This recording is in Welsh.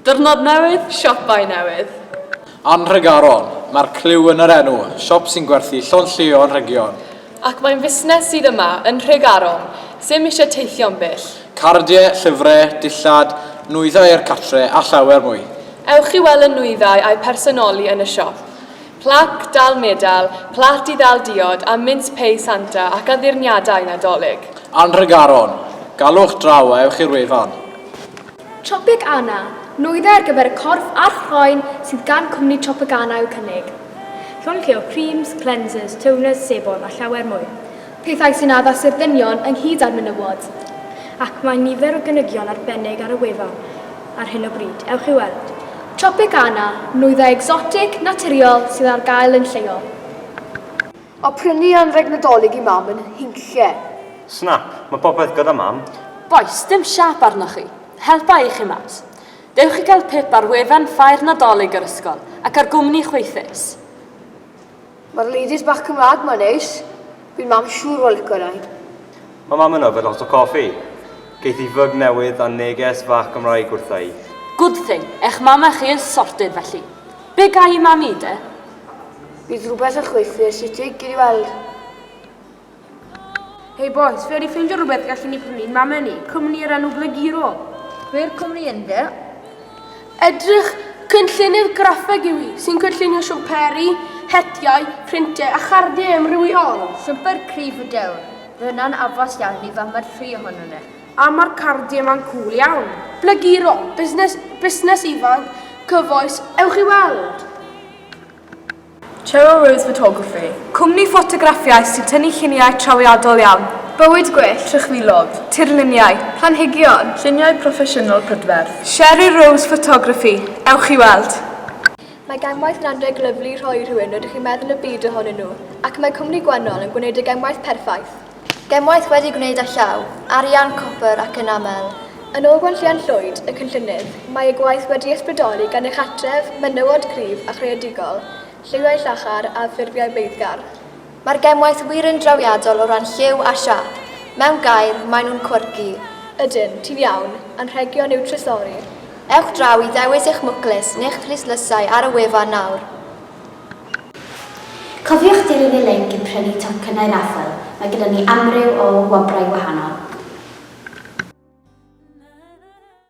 Diwrnod newydd, siopau newydd. Ann Nhregaron, mae'r clyw yn yr enw, siop sy'n gwerthu llond llio anrhegion. Ac mae'n fusnes sydd yma yn Nhregaron, ddim eisiau teithio'n bell. Cardiau, llyfrau, dillad, nwyddau i'r cartre a llawer mwy. Ewch i weld y nwyddau a'u personoli yn y siop. Plac, dal medal, plât i ddal diod a mince pie Santa ac addurniadau Nadolig. Ann Nhregaron, galwch draw a ewch i'r wefan. Tropegana, nwyddau ar gyfer y corff a'r chroen sydd gan cwmni Tropegana i'w cynnig. Llongyflliol, creams, cleansers, toners, sebon a llawer mwy. Pethau sy'n addas i'r dynion ynghyd â'r menywod. Ac mae nifer o gynigion arbennig ar y wefan ar hyn o bryd. Ewch i weld. Tropegana, nwyddau egsotig, naturiol sydd ar gael yn lleol. A prynu anrheg Nadolig i Mam yn Nhynlle. Snap, Mae popeth gyda Mam. Bois, Dim siâp arnoch chi. Helpa i chi mas. Dewch i gael pip ar wefan Ffair Nadolig yr ysgol ac ar gwmni chwaethus. Mae'r ladies bach Cymraeg ma'n neis. Bydd Mam siŵr o lico rhain. Mae Mam yn yfed lot o coffi. Geith hi fyg newydd a neges fach Gymraeg wrtha i. Good thing, eich mam a chi is sorted felly. Be ga i i Mam i de? Bydd rhywbeth yn chwythu'r City, gei di weld. Hei bois, fe wedi ffeindio rhywbeth gallen ni prynu'n mame ni, cwmni o'r enw Bleguro. Be'r cwmni ynddo? Edrych, cynllunydd graffeg yw hi, sy'n cynllunio siwmperi, hetiau, printau a chardiau amrywiol. Siwmper cryf y dewr, fe hwnna'n addas iawn i fam a'r tri ohonon ni. A mae'r cardiau ma'n cŵl iawn. Bleguro, busnes, busnes ifanc, cyfoes, ewch i weld! Cheryl Rose Photography, cwmni ffotograffiaeth sy'n tynnu lluniau trawiadol iawn, bywyd gwyllt, trychfilod, tirluniau, planhigion. Lluniau proffesiynol prydferth. Cheryl Rose Photography, ewch i weld! Mae gemwaith yn anrheg lyfli i rhoi i rhywun rydych chi'n meddwl y byd ohonyn nhw, ac mae cwmni Gwennol yn gwneud y gemwaith perffaith! Gemwaith wedi gwneud â llaw, arian, copr ac yn aml. Yn ôl Gwenllian Llwyd, y cynllunydd, mae ei gwaith wedi ysbrydoli gan ei chartref, menywod cryf a chreadigol, lliwiau llachar a ffurfiau beiddgar. Mae'r gemwaith wir yn drawiadol o ran lliw a siâp. Mewn gair, maen nhw'n quirky. Ydyn, ti'n iawn. Anrhegion yw trysori. Ewch draw i ddewis eich mwclis neu'ch cluslysau ar y wefan nawr. Cofiwch dilyn y linc i prynu tocynnau raffl, mae gyda ni amryw o wobrau gwahanol.